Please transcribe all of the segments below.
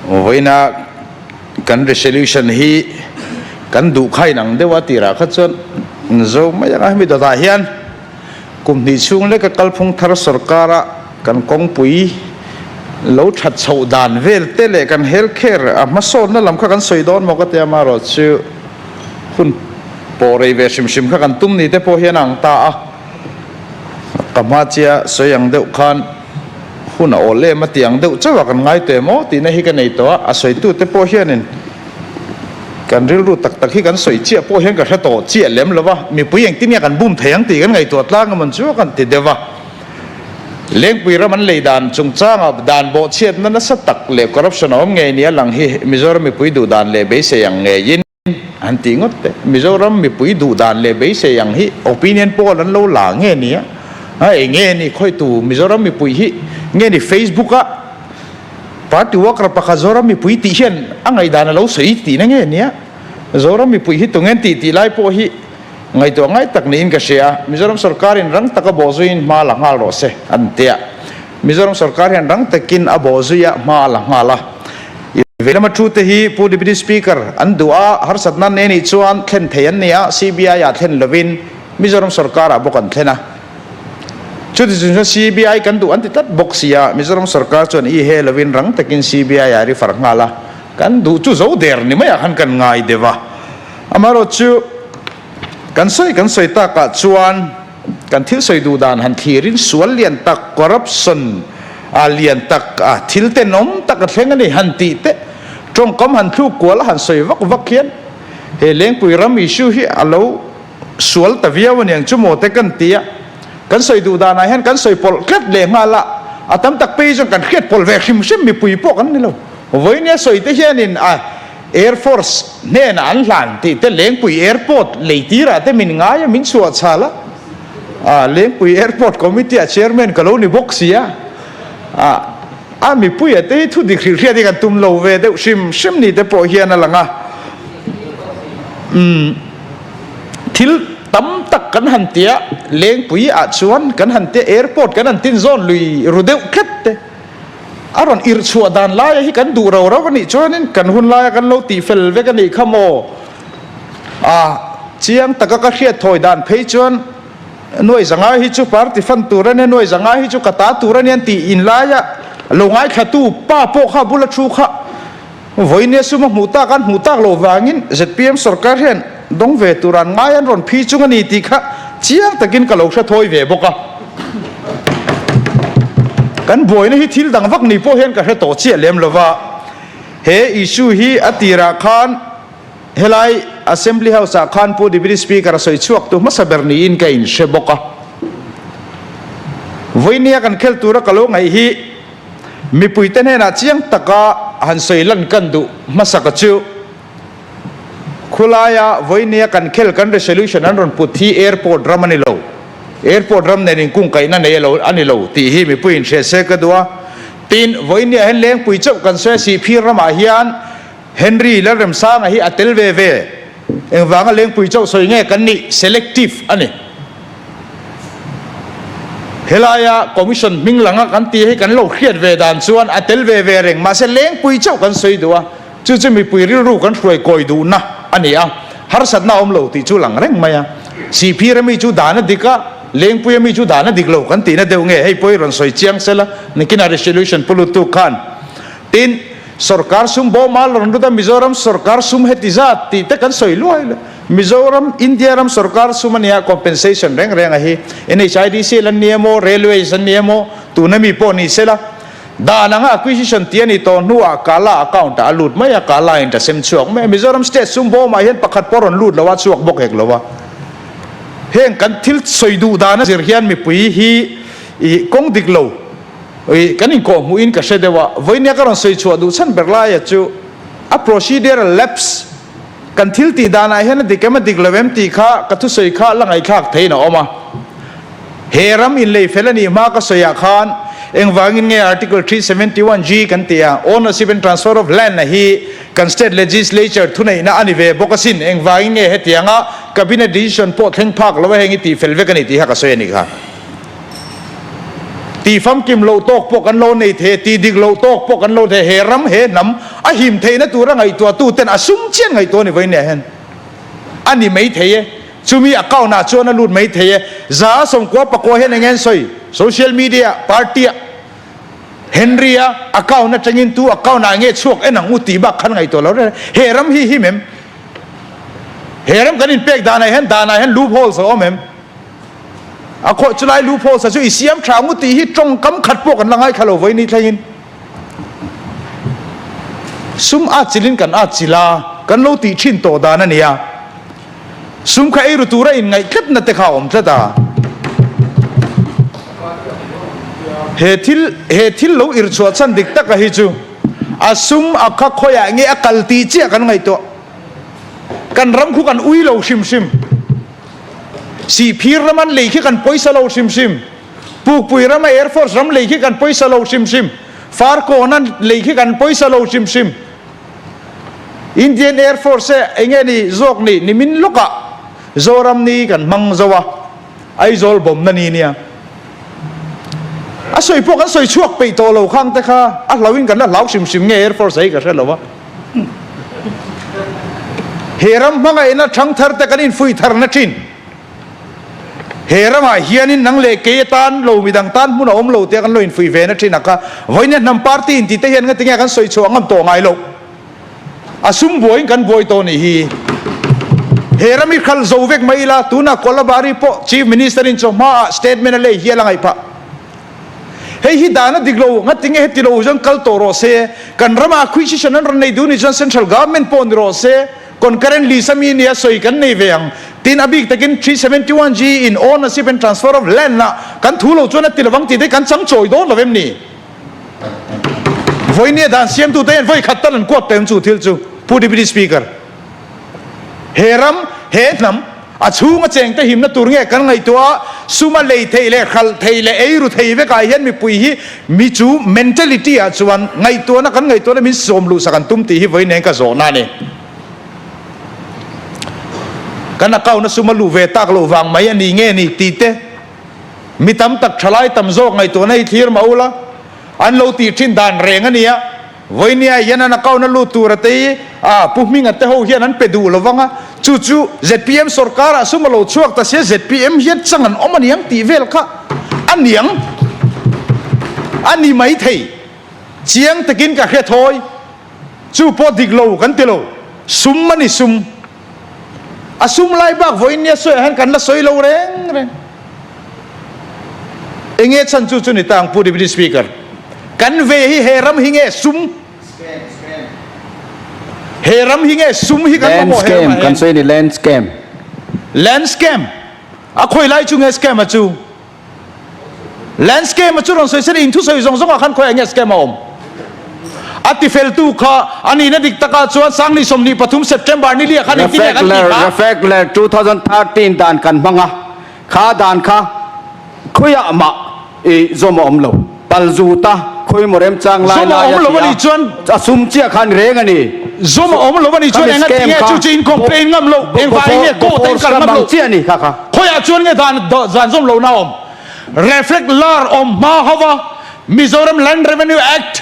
Vawiina kan resolution hi kan duh kha inang deuh a tirah kha chuan zo mai anga hemi dawtah hian kum hnih chhung leka kalphung thar sorkara kan kawngpui lo that chho dan vel te leh kan health care a hmasawtna lam kha kan sawi dawn maw ka ti a marawh chu hun pawh rei ve hrim hrim kha kan tum ni te pawh hian a ang ta a ka hmachia sawi ang deuh khan hun a awl em atiang deuh chauh a kan ngaitawh em aw tihna hi ka nei tawh a, a sawitute pawh hianin kan rilru tak tak hi kan sawi chiah pawh hian ka hre tawh chiah lem lo va, mipui engtin nge kan bum thei ang tih kan ngaihtuah tlang emaw chu a kan ti deuh va. Lengpui ram an lei dan chungchanga dan bawhchhiatna nasa tak leh corruption a awm ngei nih a lang hi Mizoram mipui duhdan leh beisei ang ngeiin. an tih ngawt te. Mizoram mipui duh dan leh beisei ang hi opinion poll an lo la nge nia, a eng nge ni khawihtu Mizoram mipui hi nge ni Facebook-a party worker pakhat Zoram mipui tih hian a ngaihdan a lo sawi tih na nge nia, Zoram mipui hi tunge an tih tih lai pawh hi ngaihtuah ngai tak niin ka hria, Mizoram sorkarin rang taka bawh zuiin hma la nghal rawh se, an tia. Mizoram sorkar hian rang takin a bawh zui a hma a la nghal a. I veilam a thu te hi Pu Deputy Speaker an duh a, harsat nan nei anih chuan thlen thei an ni a, CBI ah thlen lovin Mizoram sorkar ah bawk an thlen a. Chuti chu chuan CBI kan duh an ti tlat bawk sia, Mizoram sorkar chuan i he lovin rang takin CBI ah ri far nghal a, kan duh chu zo der ni mai ah khan kan ngai deuh a, amaherawhchu kan sawi kan sawi tak ah chuan. Kan thil sawi duh dan han thlir in sual lian tak, corruption, a lian tak a, thil te nawm tak a thleng a ni han tih teh. Tawngkam han thluk kual a han sawi vak vak hian he Lengpui ram issue hi a lo sual ta viau a niang chu maw te kan ti a. Kan sawi duh dan ah hian kan sawi pawlh tlat leh nghal a, a tam tak pei hi chuan kan hriat pawlh ve hrim hrim mipui pawh kan ni lo. Vawinia sawi te hian in a. Air Force hnenah an hlan tih te Lengpui Airport lei tirah te min ngai a, min chhuahchhal a, Lengpui Airport Committee-a Chairman ka lo ni bawk sia, a mipuia te hi thu dik hrilh hriat hi kan tum lo ve deuh hrim hrim ni te pawh hian a lang a, umm thil tam tak kan han tia Lengpui-ah chuan kan han tia Airport kan han tinzawn lui ru deuh tlat te. A rawn ir chhuah dan laia hi kan duh rau rau a nih chuanin kan hun laia kan lo tih fel vek a nih kha maw? A chiang taka ka hriat thawi dan phei chuan Nuaizangai hi chu party fan tur a nia, Nuaizangai hi chu ka ta tur a nia an tih in laia lo ngaithla tu pa pawh kha a bula thu kha Vawi nia suma hmuh tak an hmuh tak lo vangin zpm sorkar hian dawng ve tur an ngai an rawn phi chung a ni tih kha chiang takin ka lo hre thawi ve bawk a. Kan buaina hi thil dang vak ni pawh hian ka hre tawh chiah lem lo va, he issue hi a tirah khan helai Assembly House ah khan Pu Deputy Speaker a sawi chhuak tu hmasa ber niin ka inhre bawk a. Vawi nia kan khel tura ka lo ngaih hi. Mipuite hnenah chiang taka han sawi lan kan duh hmasaka chu khulaia vawinia kan khel kan resolution an rawn put hi airport ram a ni lo, airport ram nen in kungkaihna nei alo a ni lo tih hi mipuiin hriat sel ka duh a. Tin, vawinia hian lengpui chauh kan sawi a, Sihphir ramah hian Henry Lalremsanga hi a tel ve ve. Engvanga lengpui chauh sawi nge kan nih? Selective a ni. Helaia Commission hming langa kan ti hi kan lo hriat ve dan chuan a tel ve ve reng. Mahse lengpui chauh kan sawi duh a, chu chu mipui rilru kan hruai kawi duhna a ni a, harsatna a awm lo tih chu lang reng mai a. Siphira mi chu dana dik a, lengpuia mi chu dana dik lo kan tihna deuh nge? Hei pawh hi rawn sawi chiang sela, nikin a resolution pu lut tu khan. Tin. Sorkar sum bawma rawn lut a, Mizoram sorkar sum heti zat tih te kan sawi luai luai. Mizoram India ram sorkar sum a nia compensation reng reng a hi NHIDCL an ni emaw, Railways an ni emaw tuna mi pawh ni sela dan anga acquisition tih a ni tawh hnu ah Kala account ah a lut mai a, Kala in ta sem chhuak mai a, Mizoram state sum bawma hian pakhat pawh a rawn lut lo a chhuak bawk hek lo a. Heng kan thil sawi duh dan a zir hian mipui hi i kawng dik lo. Ih, kan inkawh hmuh in ka hre deuh a, vawinia ka rawn sawi chhuah duh chhan ber laia chu a procedural lapse kan thil tih danah hian a dik em a dik lo em tih kha ka thusawi kha a la ngaihthlak theihin a awm a. He ram inlei fel anih hma ka sawi ah khan engvangin nge Article three seventy one G kan ti a, Ownership and Transfer of Land a hi kan state legislature thuneihna a ni ve bawk asin engvangin nge hetianga cabinet decision pawh thleng phak lo a heng i tih fel vek a ni tih kha ka sawi a ni kha. Tih famkim loh tawk pawh kan lo nei thei a, tih dik loh tawk pawh kan lo nei he ram he hnam a him theihna tura ngaihtuahtu ten a sum chian ngaihtuah ni vawiin nia hian a ni mai thei e, chumi account ah chuan a lut mai thei e, za a sawmkua pakua hian eng en sawi social media party ah Henry a account atangin tu account ah nge chhuak en ang u tih bak khan ngaihtuah lo reh e, he ram hi him em? He ram kan inpek danah hian danah hian loop holes a awm em? A khawh chu lai loopholes-a chu i siam tha ngu tih hi tawngkam khat pawh kan la ngai kha lo vawi ni thlengin sum a chilin kan a chil a kan lo tih thin tawh dan a nia. Sum kha eiru tura inngaihkatna te kha a awm tlat a. He thil he thil lo ir chhuah chhan dik taka hi chu a sum a kha khawiah nge a kal tih chiah kan ngaihtuah. Kan ram khu kan ui lo hrim hrim. Sihphir ram an lei khi kan pawisa lo hrim hrim. Pukpui ram a Airforce ram lei khi kan pawisa lo hrim hrim. Farkawn a lei khi kan pawisa lo hrim hrim. Indian Airforce e eng e ni zawk ni nimin lawkah Zoram ni kan hmang zo a, Aizawl bawmna ni nia. A sawi pawh kan sawi chhuak peih tawh lo khangte kha a hlauhin kan la hlau hrim hrim nge Airforce a hi ka hre lo a. He ram hmangaihna thangtharte kan infui thar nachin he ramah hianin nang leh kei atan lo midang tan hmun a awm lo tia kan lo infui ve nachin a ka vawinia hnam party intite hian ngatinge kan sawi chhuah ngam tawh ngai loh a sum buaiin kan buai tawh nih hi he ram i khal zo vek mai ila tunah Kolabari pawh chief minister in chawhma ah statement a lei hial a ngaih phah. Hei hi dan a dik lo, ngatinge heti lo chuan kal tawh rawh se, kan ramah khui chi hran an rawn nei duh ni chuan Central Government pawh ni rawh se, Concurrent Lease ami nia sawi kan nei ve ang, tin a bik takin three seventy one ji in Ownership and Transfer of Land ah kan thu lo chuan a ti lovang tih te kan chang chawi dawn lo em ni? Vawinia dan siamtute hian vawikhat tan an kuat ta em chu thil chu, Pu Deputy Speaker. He ram, he hnam, a chhung a cheng tehimna tur nge kan ngaihtuah a? Suma lei thei leh hralh thei leh ei ru thei vekah hian mipui hi mi chu mentality ah chuan ngaihtuahna kan ngaihtuahna min sawm luhsak an tum tih hi vawiin eng ka zawhna a ni. Kan account-a suma luh ve tak loh vang mai a nih nge ni tih te mi tam tak thalai tam zawk ngaihtuahna hi thlir mah ula an lo tih thin dan reng a nia. Vawinia hian an account a lut tur ate hi a pu hminga te ho hian an pe duh lo vang a, chu chu zpm sawrkar ah sum a lo chhuak ta sia zpm hian chang an awm a niang tih vel kha a niang a ni mai thei chiang takin ka hre thawi chu pawh dik lo kan ti lo sum a ni sum. a sum lai bak vawiin nia sawiah hian kan la sawi lo reng reng. Enge chhan chu chu ni tang Pu Deputy Speaker? Kan ve hi he ram hi nge sum? He ram hi nge sum hi kan hmu maw he ramah hian? Land scam kan sawi a ni Land scam. Land scam? A khawi lai chu nge scam a chu? Land scam-a chu rawn sawi se rin thusawi zawng zawngah khan khawiah nge scam a awm? A tifeltu kha a nihna dik taka chuan Sangni sawmhnih pathum September ni liah khan engtin leh kan tih kha? Refactler two thousand thirteen dan kan hmang a, kha dan kha khawiah mah i zawm a awm lo. Pal zut a, khawi emaw remchang lai lai a tia a sum chiah khan reng a ni. Zawm a awm lo a ni chuan engah ti nge chu chu in complain ngam lo engvai nge court a in kal ngam lo khawiah chuan nge dan dan zawm lohna awm reflect lar awm hma ho va Mizoram land revenue act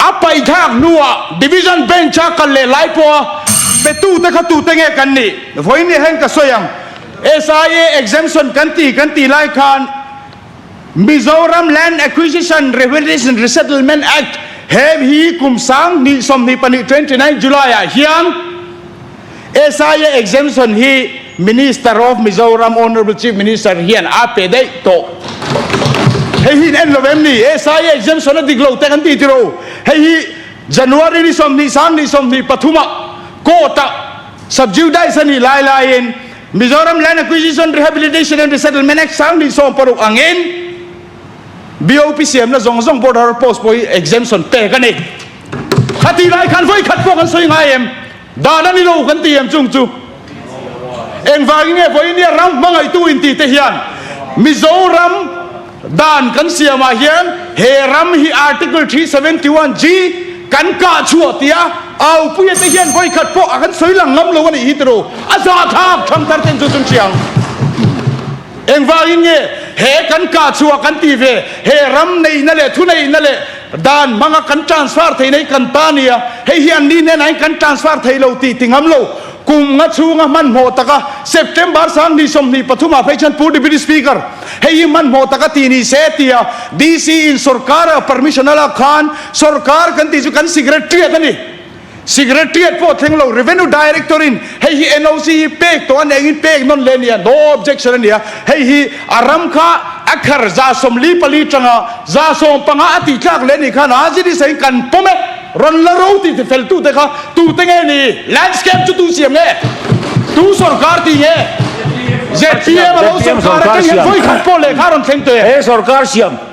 A paithlak hnuah Division Bench a kal leh lai pawh a petu te kha tute nge kan nih? Vawinia hian ka sawi ang, SIA exemption kan ti kan ti lai khan Mizoram Land Acquisition, Revenue and Resettlement Act he hi kum sang hnih sawmhnih pahnih twenty nine July ah hian, Esaia exemption hi Minister of Mizoram Honourable Chief Minister hian a pe daih tawh. Hei hi in en lo em ni? Esaia exemption a dik lo te kan ti tiro? Hei hi January ni sawmhnih sang ni sawmhnih pathuma court ah subjudice a nih lai laiin Mizoram Land Acquisition, Rehabilitation and Resettlement Act sang ni sawm paruk angin BOP siamna zawng zawng border post pawh hi exemption pek a ni. A ti lai khan vawikhat pawh kan sawi ngai em? Dan a ni lo kan ti em chung chu? Engvangin nge Vawinia ram hmangaitu intite hian Mizoram dan kan siamah hian he ram hi Article three seventy one G kan kah chhuah tia Aupuia te hian vawikhat pawh a kan sawi lang ngam lo a nih hi tiraw? A zahthlak tham thar ten chu chun chiang. Engvangin nge he kan kah chhuah kan ti ve he ram neihna leh thuneihna leh Dan hmanga kan transfer thei nei kan ta nia, hei hi anni hnenah hian kan transfer thei lo tih ti ngam lo. Kum nga chhunga hmanhmawh taka September sang ni sawmhnih pathumah phei chuan Pu Deputy Speaker hei hi hmanhmawh taka ti ni se tia DC in sorkara permission a lak khan sorkar kan tih chu kan secretary a ni. Secretariat pawh thleng lo, Revenue Director in hei hi NOC hi pek tawh a nih angin pek nawn leh a nia, no objection a nia, hei hi a ram kha a khar Zasawm li pali tanga Zasawm panga a tih tlak leh a nih khan a zit i sahin kan paw met, rawn la ro tih ti fel tu te kha tute nge ni? Landscape chu tu siam nge? Tu sawrkar ti nge? ZPM a lo sawrkar a keng hian vawi khat pawh leh kha rawn thleng teh. He sawrkar siam.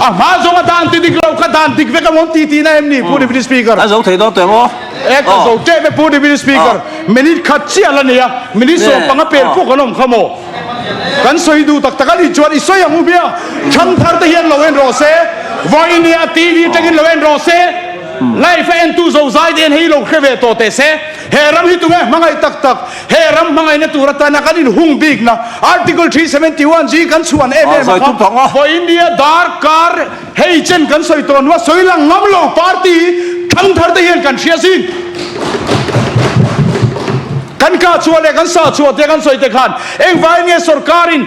A hma zawng a dan ti dik lo, ka dan dik vek emaw ti tihna em ni Pu Deputy Speaker? Ka zo thei dawn teh maw? E, ka zo teh ve Pu Deputy Speaker. Minute khat chiah la nia, minute sawm panga per pawh kan awm kha maw? Kan sawi duh tak tak a ni chuan i sawi ang u hmia, chhang thar te hian lo en rawh se, vawi a nia TV atangin lo en rawh se, live a entu zozai te hian hei lo hre ve tawh teh se, he ram hi tunge hmangaih tak tak. He ram hmangaihna tur atana kan inhung bikna Article three seventy one zing kan chhuan em em a kha. Haw India dar kar hei chen kan sawi tawh nuh a, sawi lang ngam lo party hi thang thar te hian kan hria zing. Kan kah chhuah leh kan sah chhuah te kan sawi te khan engvaiin nge sorkar in,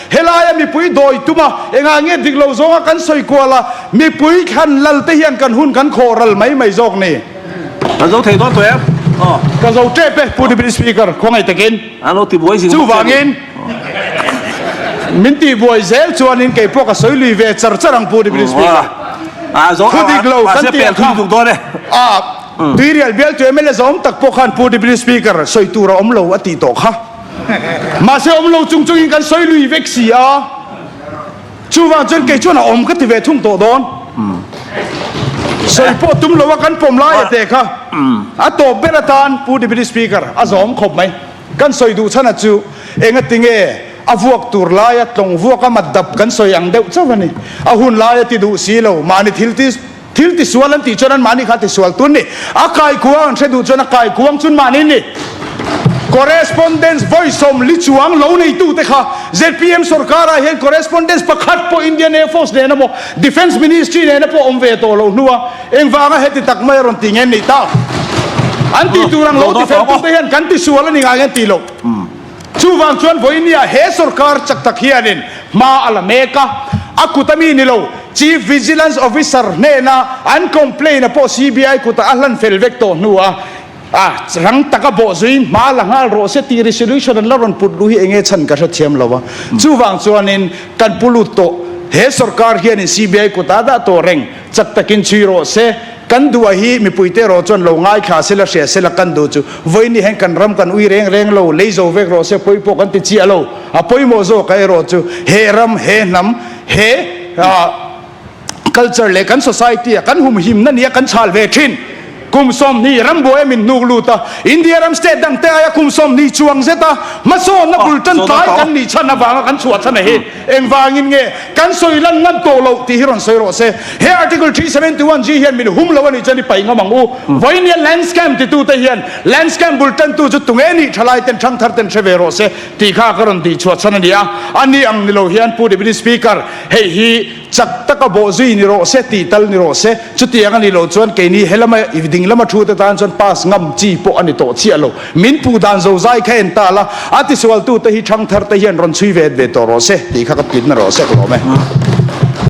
Helai a mipui dawi tum a, engah nge dik lo zawnga kan sawi kual a, mipui thlan lal te hian kan hun kan khawh ral mai mai zawk ni. Kan zo thei dawn tawh em? Aw. Ka zo tep e, Pu Deputy Speaker, khuangaih takin. An lo tibuai zing bawk sia ni. Chuvangin min tibuai zel chuanin kei pawh ka sawi lui ve char char ang Pu Deputy Speaker. Thu dik lo kan ti ang kha. Tuirial bial tu MLA zawng tak pawh khan Pu Deputy Speaker sawi tur a awm lo a tih tawh kha. Mahse awm lo chung chungin kan sawi lui vek si a, chuvang chuan kei chuan a awm ka ti ve thung tawh dawn. Sawi pawh tum lo a kan pawm lai a te kha a tawp ber atan Pu Deputy Speaker a zawm khawp mai. Kan sawi duh chhan a chu engatinge a vuak tur laia tlawng vuaka mat dap kan sawi ang deuh chauh a ni. A hun lai a ti duh si lo, mahni thil ti. Thil tisual an tih chuan anmahni kha tisual tun ni a kaikuang an hre duh chuan a kaikuang chun mahni ni. Correspondence vawi sawm li chuang lo neitu te kha zpm sawrkar ah hian correspondence pakhat pawh Indian Air Force nena maw Defence Ministry nena pawh awm ve tawh lo hnu a, engvanga heti tak mai a rawn ti ngei an nih ta? An tih tur ang lo ti fel tum te hian kan tisual a ni ngai ang an tih loh. Chuvang chuan Voinia he sorkar chak tak hianin hma a la mek a, a kut ami ni lo Chief Vigilance Officer hnena an complain a pawh CBI kutah a hlan fel vek tawh hnu a, a rang tak a bawh zuin hma la nghal rawh se tih resolution an la rawn put luh hi eng nge chhan ka hrethiam lo a, chuvang chuanin kan pu lut tawh, he sorkar hianin CBI kutah a dah tawh reng chak takin chhui rawh se. Kan duh a hi mipui te erawh chuan lo ngai thla se la hria se la kan duh chu vawi ni hian kan ram kan ui reng reng lo lei zo vek rawh se pawi pawh kan ti chiah lo a pawimawh zawk a erawh chu he ram he hnam he ah culture leh kan society a kan hum him na nia kan chhal ve thin kum sawmhnih ram buai a min nuk lut a India ram state dang te aia kum sawmhnih chuang zet a hmasawn na bul tan tlai kan nih chhan avanga kan chhuah chhan a hi Engvângin nge kan sawi lan ngat tawh lo tih hi rawn sawi rawh se, he Article three seventy one G hian min hum lo a nih chuan i paihngah mang u. Vawi nia land scam titute hian land scam bul tantu chu tunge nih tha lai ten thangthar ten hre ve rawh se tih kha ka rawn tih chhuah chhan a nia. A ni ang ni lo hian Pu Deputy Speaker hei hi chak taka bawh zui ni rawh se, tih tal ni rawh se. Chutiang a nih loh chuan keini he lama i ding lama thu te tan chuan pass ngam chi pawh a ni tawh chiah lo. Min pu dan zozai kha en ta la, a tisualtute hi thangtharte hian rawn chhui ve et ve tawh rawh se tih kha ka tlitna rawh sek lawm e.